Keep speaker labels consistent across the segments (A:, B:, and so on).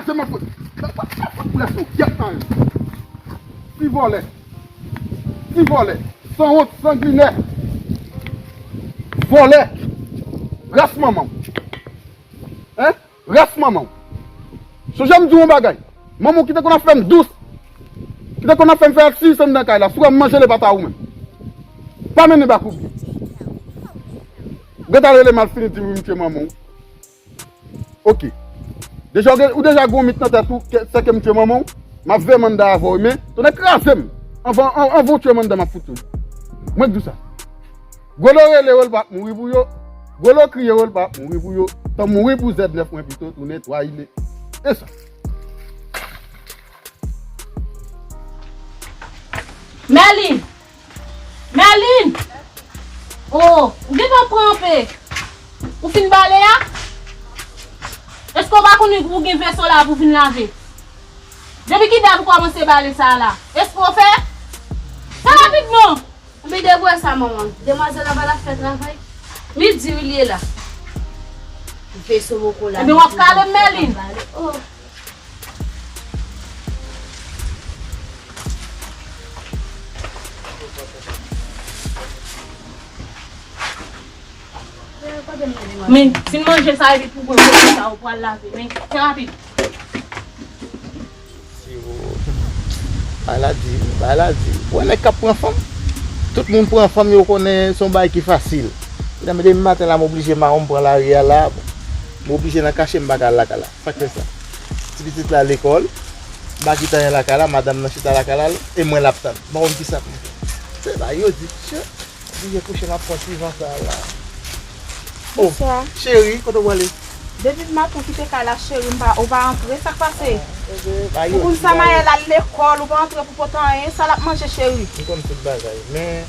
A: Achte man fout. Nan pa sa fout pres nou gyet nan yo. Ti vole. Ti vole. San wont sanguine. Vole. Ras manman w. Hein. Ras manman w. Sonje m di w yon bagay. Manman w ki te konn ap fem dous. Ki te konn ap fem fe aktivite andan kay la. Si w wem manje le pata ou menm. Pa mennen bakoubye. Gata rele mal fini di w m tye manman w. Ok. Deja ou gen ou deja gen yon mit nan tèt ou ke sè kem tue manman w map veye manda avè w men tonnè krazem anvan anvan w tue manda map fout tue w mwen k di w sa Golo rele yo l pap mouri pou yo Golo kriye yo l pap mouri pou yo tanm mouri pou zèb nèf mwen pito tounen twa ine e sa.
B: Merline! Merline! Oh, ou gentan pran anpe? Ou fin bale a? Eske ou pa konnen pou ou gen veso la pou vin lave? Depi ki dat ou kòmanse bale sa la? Eske ou fè? Fè rapid non! Ou byen devwe sa
C: manman. Demwazèl la pa la fè travay? Li di wi li e la. Veso mokola. Ebyen wap kalem Merline.
B: Men, fin manje sa epi pou gwen kote sa ou pral lave. Men, fè rapid. Siwo.
D: Bay la di, bay la di. Ou wè nèg k ap pran fanm? Tout moun pran fanm yo konnen se yon bagay ki fasil. Depi maten la m oblije mawon m pran lari a la. M oblije nan kache m pa ka al lakay la. Sak fè sa? Ti pitit la lekòl, Magi tanyen lakay la, madanm nan chita lakay la e mwen lap tann. M pa konn kisa pou m fè. Se la yo di, Tchoo, li ye kouche map pran ti van sa a la. Oh, cheri, kote ou prale? Depi maten ou
E: kite kay la cheri m pa, ou pa antre, sak pase? Ou
D: konn sa Maël al
E: lekòl, ou pa antre pou pote anyen, sa lap manje cheri? M konn tout bagay,
D: men.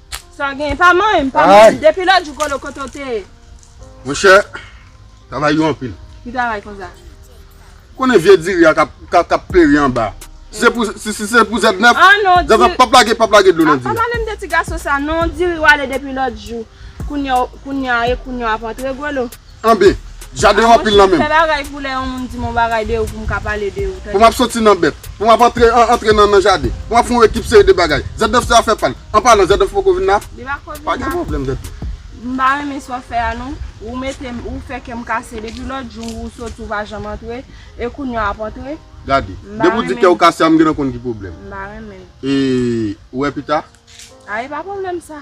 A: Sa gen pa
E: manyen m pa manyen m depi lòt jou kolo kote w te ye. Monchè
A: travay yo anpil. Ki travay konsa?
E: Ou konnen
A: vye diri a kap peri anba. Si se pou zèb nèf, zèb nèf
E: pap lage pap lage
A: dlo nan diri a. Pa pale m de ti gason
E: sa non diri w ale depi lòt jou kounya e kounya w ap antre golo. Anben,
A: jaden an anpil nan menm. A mwen se m fè bagay pou lè yon moun
E: di m yon bagay de ou pou m ka pale de ou tande. Pou m ap soti nan bèt.
A: Pou m ap antre antre nan nan jaden. Pou m ap fè yon ekip seri de bagay. Zèdòf se afè pa l. An palan, Zèdòf poko vin la? Li pako vin la. Pa gen pwoblèm, Zèdòf. M pa renmen sa
E: w ap fè a non. Ou mete m, ou fè kè m kase. Depi lòt jou ou soti ou pa janm antre. E kounye a w ap antre? Gade. M pa renmen. Depi ou
A: di kè ou kase a m gentan konn ki pwoblèm. M pa renmen. E ou wè pita? A e pa pwoblèm
E: sa.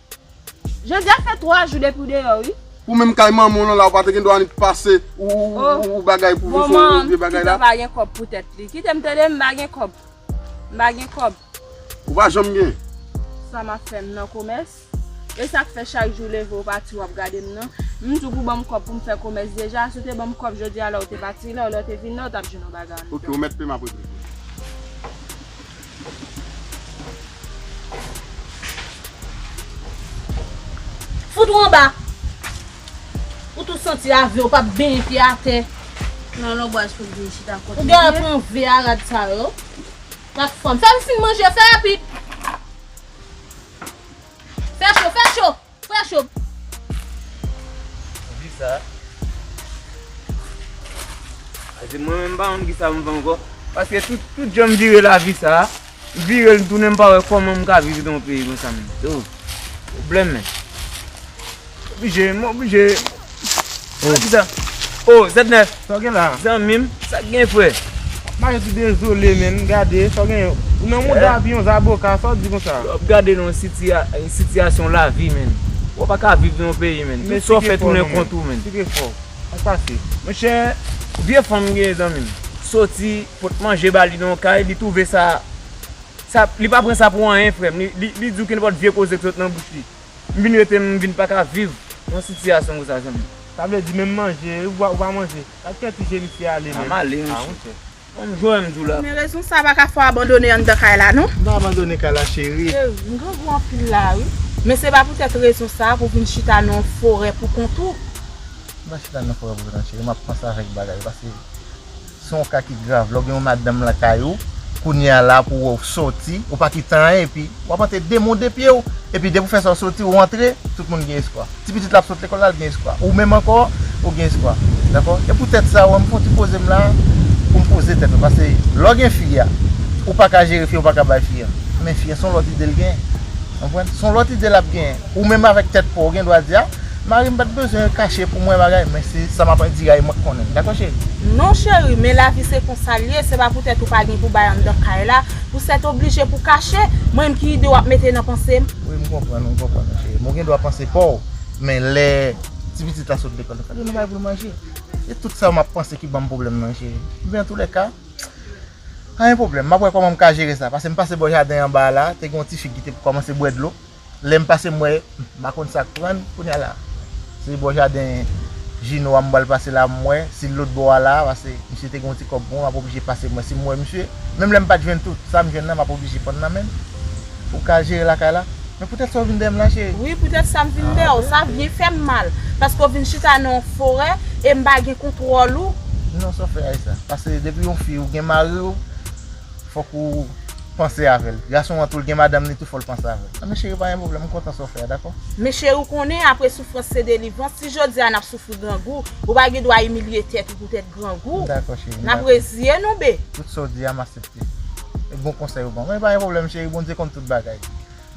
E: Jodya fè 3 jou depiw deyò wi. Ou menm kay manmanw lan
A: la ou pa te gen dwa annik pase ou bagay pou vin fon vye bagay la. Bon manman m pito pa gen kòb pou tèt li.
E: Kitem tande m pa gen kòb. M pa gen kòb. Ou pa janm
A: gen. Sa map fè
E: m nan komès. Esak fè chak jou ou leve ou pati wap gade m nan. M di w pou banm kòb pou m fè komès deja. Si w te banm kòb jodi a lè ou te pati la ou lè ou te vin la ou tap jwenn yon bagay andedan. Ok ou mèt peyim apre
A: prizwen.
B: Fout ou anba. Ou tou santi ave ou pap benyen pye atè. Nan lonbwaj
C: pou l vin chita kote li ye. Ou genlè pran ve
B: a rad sa yo. Ak fanm. Fè m fin manje fè rapid. Fè cho fè cho. Frè cho.
F: Di sa. A di mwen menm m pa konn ki sa m fè ankò. Paske tout jan m vire lavi sa. M vire l m tounen m pa wè kòman m ka viv nan yon peyi konsa menm. Se yon pwoblèm menm. Oblije, m oblije. Oh zèdnè Sa w gen la Zanmi
D: m Sa k gen
F: frè Wap mache sou
D: dezole menn Gade sa w gen Ou nan mond avyon zaboka Sa w di konsa Yo ap gade nan
F: yon sitiyasyon lavi menn Ou pa ka viv nan yon peyi menn
D: Tout
F: sa w fè tounen kont ou menn Sikre fò Sa k pase Monchè Vye fanm m gen zanmi m Soti pot manje ba li nan yon kay Li twouve sa Sa Li pa pran sa pou anyen frè m Li di w kenpòt vye koze k sot nan bouch li. M vin rete m vin paka viv yon sitiyasyon konsa zanmim. Sa vle di menm manje
G: ou pa manje. Gad kè ti je misye ale menm. Map ale mesye.
F: Banm jwè m di w la. Men rezon sa paka fè
E: w abandone anndan kay la non. M pa abandone kay la
D: cheri. M grangou anpil
E: la wi. Men se pa poutèt rezon sa pou vin chita nan yon forè pou kont ou. M pa chita
D: nan forè pou kont mwen cheri map panse avèk bagay pase. Se yon ka ki grav, lè w gen yon madanm lakay ou, kounye a la pou wè w sòti, ou pa ki tan anyen epi w ap antre demode pye w, epi depi w fè sa w sòti ou antre, tout moun gen espwa. Ti pitit la ap sot lekòl la l gen espwa, ou menm ankò ou gen espwa. Dakò? E pou tèt sa wè m fè yon ti poze m la pou m poze tèt mwen pase lè w gen fi a, ou pa ka jere fi a ou pa ka bay fi a, men fi a se yon lòt ide l genyen. Konprann? Se yon lòt ide l ap genyen. Ou menm avèk tèt paw ou gen dwa di a Mari m pat bezwen kache pou mwen bagay men se sa map di a e mwen k konnen l dakò cheri? Non cheri men
E: lavi se konsa l ye se pa poutèt ou pa gen pou bay anndan kay la pou sètoblije pou kache Mwen menm ki ide wap mete nan panse m? Wi m konprann ou m
D: konprann ou cheri men ou gen dwa panse paw men lè ti pitit la sot lekòl fòk gen yon bagay pou l manje se tout sa map panse ki banm pwoblèm nan cheri men antoulèka pa gen pwoblèm map wè kòman m ka jere sa pase m pase bò jaden anba a la te gen yon ti fi ki te kòmanse bwè dlo. Lè m pase m wè m pa konn sak pran kounya la se bò jaden Jino a m pral pase la m wè si l lotbò a la pase misye te gen yon ti kòb pou mwen m ap oblije pase m wè si m wè misye menm lè m pat jwenn tout sa m jwenn nan m ap oblije pran nan men m pou m ka jere lakay la men poutèt sa w vin dèyè m la cheri. Wi poutèt sa m vin
E: dèyè w sa byen fè m mal paske w vin chita nan yon forè e m pa gen kontwòl ou. Non sa w fè Ayisa
D: pase depi yon fi ou gen mari w. Fok ou panse avel. Gason an tou l gen madanm li tou fol panse avel. Nan men cheri pa gen problem m kontan sa w fè a dakò. Men cheri w konnen
E: apre soufrans se delivrans si jodi a nap soufri grangou ou pa gen dwa imilye tèt ou poutèt grangou. M dakò cheri m dakò. Nap
D: reziye nou be.
E: Tout sa w di a m asepte.
D: E bon konsèy ou ban mwen. Pa gen problem cheri Bondye konn tout bagay.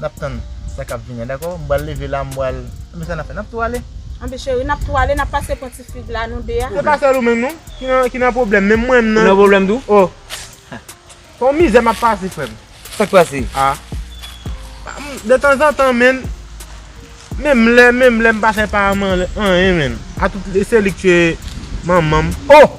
D: Nap tann sa kap vini an dako. M pral leve la m pral Anbe sa nap fè nap tou ale. Anbe cheri nap tou
E: ale nap pase pran ti fig la nou 2 a. Se pa sèl ou menm non
G: ki nan pwoblèm menm mwen m nan. Ou nan pwoblèm tou? Oh Son mizè map pase frè m. Sak pase?
F: Ah
G: De tanzantan menn Menm lè menm lè m pa fè pa Armand anyen menn. Atout se li k tuye manman m. Oh!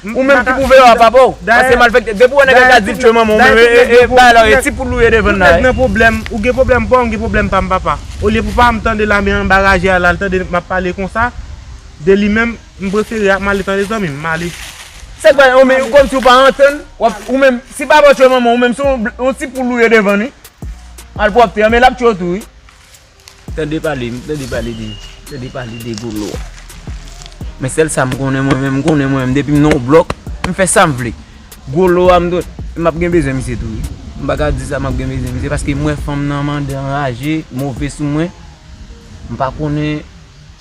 F: Ou menm ki pou veye a papa w. Pase malfekte. Depi w wè nèg la ka di tchwe manman w menm e bay la e ti poul ou ye devan la. Tout nèg nan pwoblèm. Ou gen
G: pwoblèm pa w m gen pwoblèm pa m papa. Olye pou papa m tande la men anba raje a la l tande m ap pale konsa de li menm m prefere a m ale tande zanmi m m ale. Sa k bay
F: omi kòmsi w pa antann w ap ou menm si papa w tchwe manman w ou menm se yon ti poul ou ye devan li. Malpwòpte anmè l ap tchwe w tou wi. Tande pale, m tande pale de, m tande pale de Golo. Men sèl sa m konnen mwen menm, m konnen mwen menm depi m nan yon blòk, m fè sa m vle. Golo a m dwe, m ap gen bezwen misye tou wi. M pa ka di sa m ap gen bezwen misye paske m wè fanm nan mande anraje, move sou mwen. M pa konnen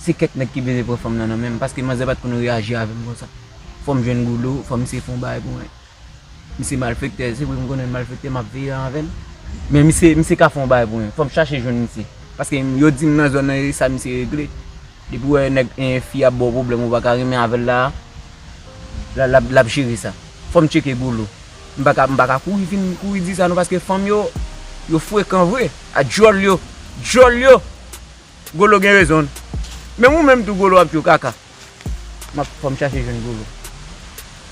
F: se kèk nèg ki bezwen pran fanm nan nan men m paske manzè pa t konn reyaji avè m konsa. Fò m jwenn Golo, fò misye fè yon bagay pou mwen. Misye malfektè, se vre m konnen l malfektè m ap veye avè l. Men misye, misye ka fè yon bagay pou mwen. Fò m chache jwenn misye. Paske yo di m nan zòn nan e sa misye regle. Depi ou wè yon nèg e fi ap ba w pwoblèm ou pa ka renmen avè l la a, l ap jere sa. Fò m tcheke Golo. M pa ka, m pa ka kouri vin kouri di sa non paske fanm yo, yo frekan vre. A djòl yo, djòl yo! Golo gen rezon l. Menm ou menm tou Golo w ap tchou kaka. Map fòm chache jwenn gwo lò.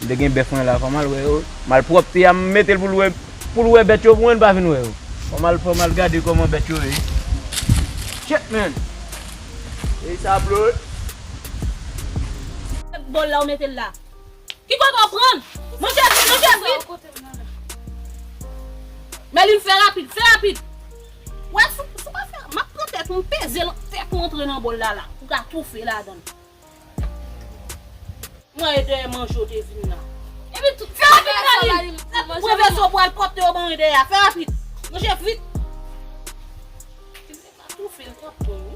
F: M te gen bèf mwen la fòm al wè yo. Malpwòpte a m mete l pou l wè pou l wè bèt yo pou mwen l pa vin wè yo. Fòm al fòm al gade kòman bèt yo ye. Chet man! Peyi sa ap lòd. Ak
B: bòl la ou mete l la. Ki kote ou pran l? Monchè vit monchè vit! Mèlin fè rapid fè rapid! Wè sou sou pa fè map pran tèt ou m peze l fè tou antre nan bòl la la ou ka toufe ladan l. Mwen e dèyè manje w te vin la. Epi tout fè rapid Carline lap tou pran vèsè w pral pòte yo ban e dèyè a fè rapid manje vit. Tine ka toufe l tròp bon wi.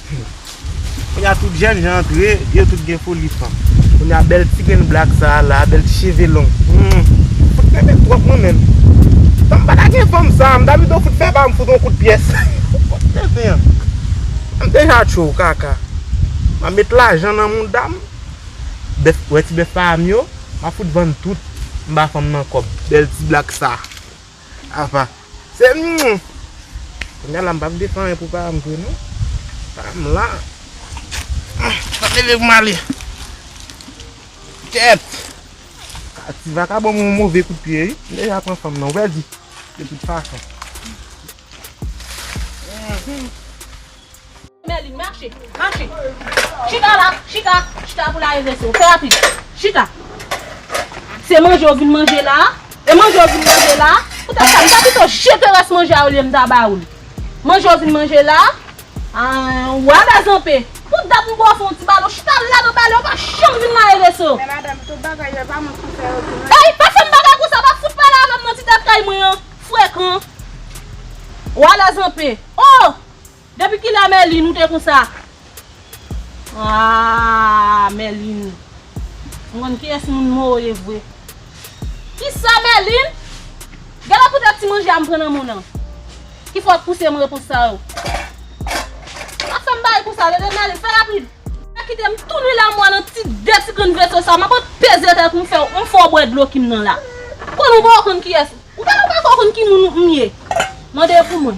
G: Kounya tout jènjan antre, yo tout gen foli fanm. Kounya bèl ti grenn black sa a la, bèl ti cheve long. Humm, fout mwen met twòp mwen menm. Tanm pa ta gen fanm sa a, m ta pito fout fè pa m fout on kout pyès. Fout tenten an. M deja tjou, kaka. M ap met lajan nan mouda m. Bèf, wè ti bèf pa a m yo, m ap fout vann tout, m ba fanm nan kòb. Bèl ti black sa a. Apa se humm. Kounya la m pap defen anyen pou pa m vre non. Pa m la. Map leve pou m ale. Kèt. Ti vakabon mwen yon move kout pye wi. Li deja pran fanm nan ou pèdi. De tout fason.
B: Merline, mache, mache. Chita la, chita, chita pou laeve sou. Fè rapid. Chita. Se manje ou vin manje la a? E manje ou vin manje la a? Poutèt sa, m ta pito jete rès manje a olye m ta ba ou li. Manje ou vin manje la a? Aah, ou ala zanpe. Pou dat m ba w fè yon ti bale, ou chita la nan bale, ou pa janm vin laeve sou. Men madanm, tout
E: bagay yo e pa mwen ki fè yo tou non. Ey, pa fè m
B: bagay konsa, pa fout pale avè m nan ti tèt kay mwen an. Frekan. Ou ala zanpe. Oh! Depi kilè a Merline ou te konsa? Aah Merline M konn kiyès moun mou ye vre Kisa Merline? Gèlè poutèt ti manje a m pran nan moun an ki fè w ap pouse m repons sa yo Ap fè m pale konsa tande Merline fè rapid Pa kite m tounin la mwa nan ti de ti grenn veso sa Map ap peze tèt m fè w m fè w bwè dlo ki m nan la Konn ou pa w konn kiyès ou Ou pa konn ki moun m ye Mande pou mwen.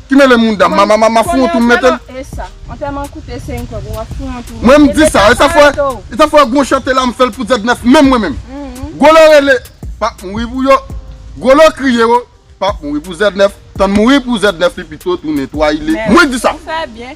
E: Ki mele mounda mama
A: mama fou wont ou metel. Konnen antèman esa. Antèman
E: koute 5 kob ou wap fou wont ou. Mwen m di sa. Esa fwe
A: esa fwe gwo chante la m fel pou Z9 menm mwen menm. Gwolo rele pap mouri pou yo. Gwolo kriye wo pap mouri pou Z9. Tann mouri pou Z9 li pito tounen 3 ile. Mwen di sa. Ou fe byen.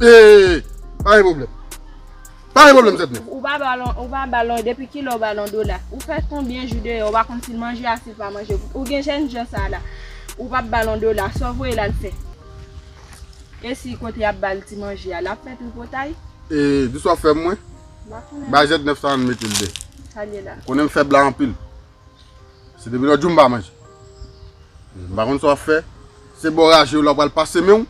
A: Eee pa gen problem Pa gen problem zèt men. Ou pa balon ou pa
E: balon depi kilè ou balon dola ou fè konbyen jou deyò ou pa konn sil manje a sil pa manje ou gen jèn jan sa la ou pap balon dola sa ou voye lal fè esi kote yap bal ti manje a lap fè tripotay. Ee dis wap fè
A: mwen? Bay zèt nèf sa ann metel de ou konnen m
E: fèb la anpil.
A: Se depi lòt jou m pa manje. M pa konn sa w ap fè. Se bò raje w la w pral pase men w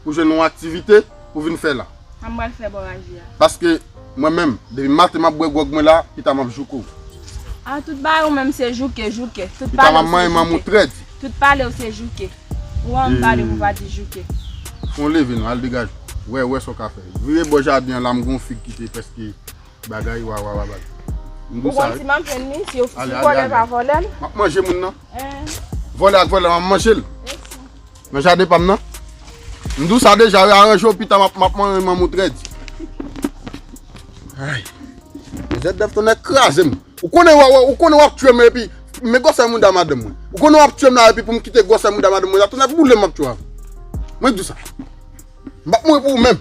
A: pou jwenn yon aktivite pou vin fè la. Sa m pral fè bò raje
E: a? Paske
A: mwen menm, depi maten m ap bwè gwòg mwen la, pita m ap jouke w. A! Tout
E: bagay ou menm se jouke, jouke. Tout pale w se jouke. Pita m ap manyen
A: manman w trè di. Tout pale w se
E: jouke. Ou ann pale pou w pa di jouke. Fè w leve
A: nan, al degaje w. Wè, wè sa w ka fè. Vire bò jaden an la m gen yon fig ki te prèske. Bagay wawa wawa bagay. M gou
E: sa wi. Ale ale ale. Map
A: manje
E: moun
A: nan. Vole ak vole map manje l. Nan jaden pa m nan. M di w sa deja wi aranje w pita map manje moun trèd. Ay. Jèt dèf ton nèk kraze m. Ou konnen wawa ou konnen wap tue m epi men gwosè mouda madanm mwen. Ou konnen wap tue m la epi pou m kite gwosè mouda madanm mwen la ton nèk boule m map tue w avè. Mwen di w sa. M pap mouri pou ou menm.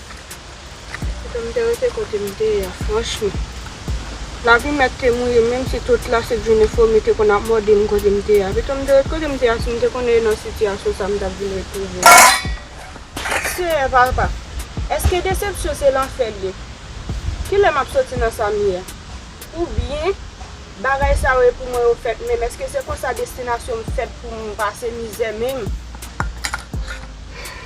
H: Kite m te rete kote m te ye a franchman. Lavi mèt te mouye menm si tout la se jounen fomi te konn ap mòde m kote m te ye a. Pito m te ret kote m te ye a si m te konnen e nan sitiyasyon sa m t ap vin retwouve m. Seyè papa, èske desepsyon se lanfè l ye? Kilè m ap soti nan sa m ye a? Oubyen bagay sa yo e pou mwen yo fèt menm? Èske se konsa destinasyon m fèt pou m pase mizè menm?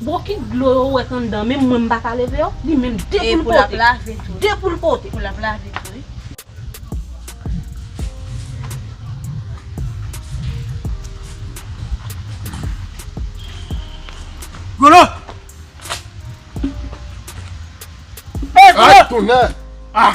B: Bon ki dlo yo wè anndan menm mwen m paka leve yo li menm de poul pote. E pou lap lave
C: tou.
B: De poul
C: pote. Pou lap
B: lave tou wi.
F: Golo!
A: Hey golo! Ay tonè! Ah!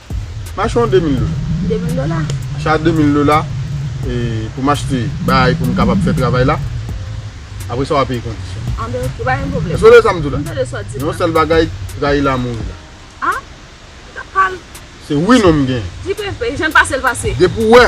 A: Mache yon 2000 dola. 2000 dola.
E: Mache a 2000
A: dola pou m achte bagay pou m kapab fè travay la. Apre sa w a peye kondisyon. Anben oke, pa gen pwoblèm.
E: Èske w tande sa m di w la? M tande
A: sa w di m la. Yon sèl
E: bagay,
A: rayi la mouri la. A? Ou t
E: ap pale. Se wi
A: non m gen. Di pepe, jan l pase
E: l pase. Depi w wè.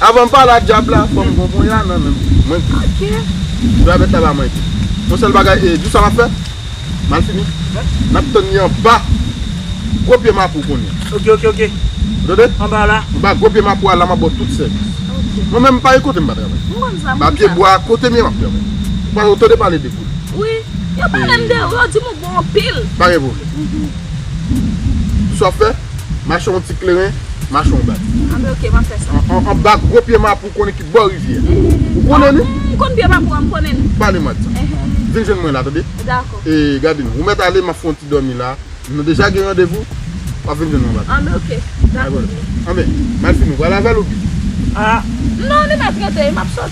A: Avan m pale ak dyab la fò m gen yon bon ya nan men m. Mwen krake.
E: Djabèt
A: la ba mwen di. Yon sèl bagay e, di w sa m ap fè? Malfini, n ap tann li anba gwo pye mapou kounye a. Oke, oke, oke. Ou
F: tande? Anba
A: la. Anba
F: gwo pye mapou a la m
A: ap ba w tout sèvis. Oke. Mwen menm m pa gen kote m pa travay. M konn sa, m konn sa. Ba pye bwa a kote m ye m ap travay. Ou pa ou tande pale de koulè. Wi. Yo pale
E: m de ou, yo di m ou bon anpil. Pa gen pwoblèm.
A: Di sa w ap fè? Mache yon ti kleren, mache yon bak. A men ok, m ap fè
E: sa. Yon bak gwo pye
A: mapou konnen ki bò rivyè a. Ou konnen li? M konn pye mapou an, m
E: konnen li. Pale mwa de sa.
A: Vin jwenn mwen la tande. Dakò. E gade
E: non, ou mèt
A: ale, m ap fè yon ti dòmi la. Nou deja gen randevou. W ap vin jwenn mwen anba tou. A men ok. Dakò.
E: Anben,
A: m al fini. W pral avè l ou byen? A.
F: Non, li mèt
E: rete. M ap sot.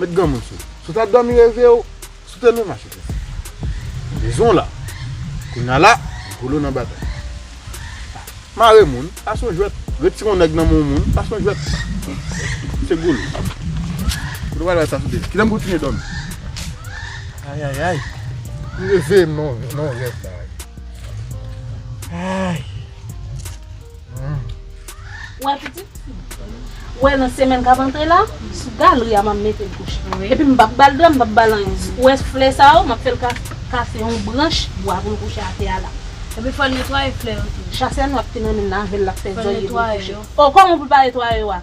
A: Met granmoun sou. Si w ta domi reve w sou tele mache tete. Dezon la. Kounya la Rigolo nan batay. Mare moun pa son jwèt. Retire yon nèg nan men yon moun pa son jwèt. Se Rigolo. Kote w al bay sa sou tele. Kilè m kontinye domi.
F: Ayayay. M
A: reve m nan yon rèv la.
F: Ayy.
B: Wè pitit? Wè nan semèn k ap antre la, sou galri a m ap mete l kouche. Epi m p ap ba l dra, m p ap ba l anyen. Wè flè sa yo, m ap fè l kase yon branch bwa pou l kouche atè a la. Epi fò l netwaye
C: flè yo tou.
B: Chak semèn w ap fin
C: anmennen
B: l avè l, l ap fè zòy epi l kouche. O, kòman
C: pou
B: l pa netwaye yo a?